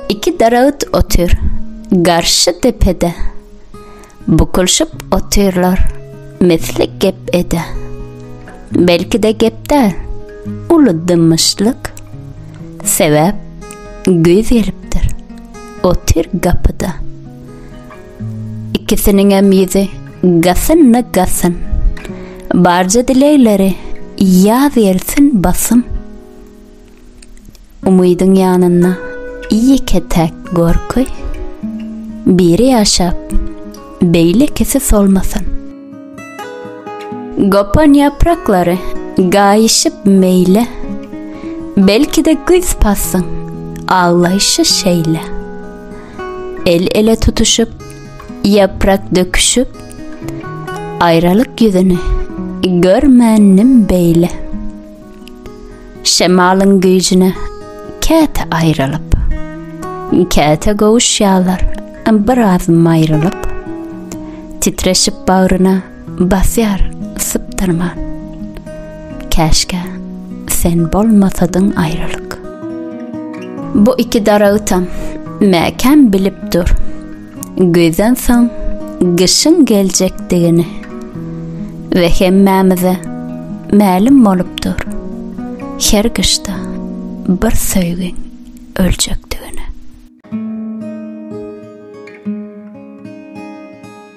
Iki daragt otyr. Garşy depede. Bukulşyp otyrlar. Mesli gep ede. Belki de gepde. Uly dymyşlyk. Sebäp güýz gelipdir. Otyr gapyda. Ikisiniňem ýüzi gasynna gasyn. Barja dilegleri ýaz gelsin basym. Umydyň ýanynda ýeke-täk gorky. Biri ýaşap, beýlekisi solmasyn. Gopan ýapraklary gaýyşyp meýle. Belki-de güýz passyň aglaýşy şeýle. El-ele tutuşyp, ýaprak döküşip, Aýralyk ýüzüni görmändim beýle. Şemalyň güýjüne käte aýrylyp, Käte gowuşýarlar biraz maýrylyp, Titreşip bagryna Basýar sypdyrman. Käşgä sen bolmasadyň aýralyk. Bu iki daragtam mäkäm bilip dur. Güýzden soň gyşyň geljekdigini. We hemmämize mälim bolup dur. Her gyşda bir söýgiň öljekdigini.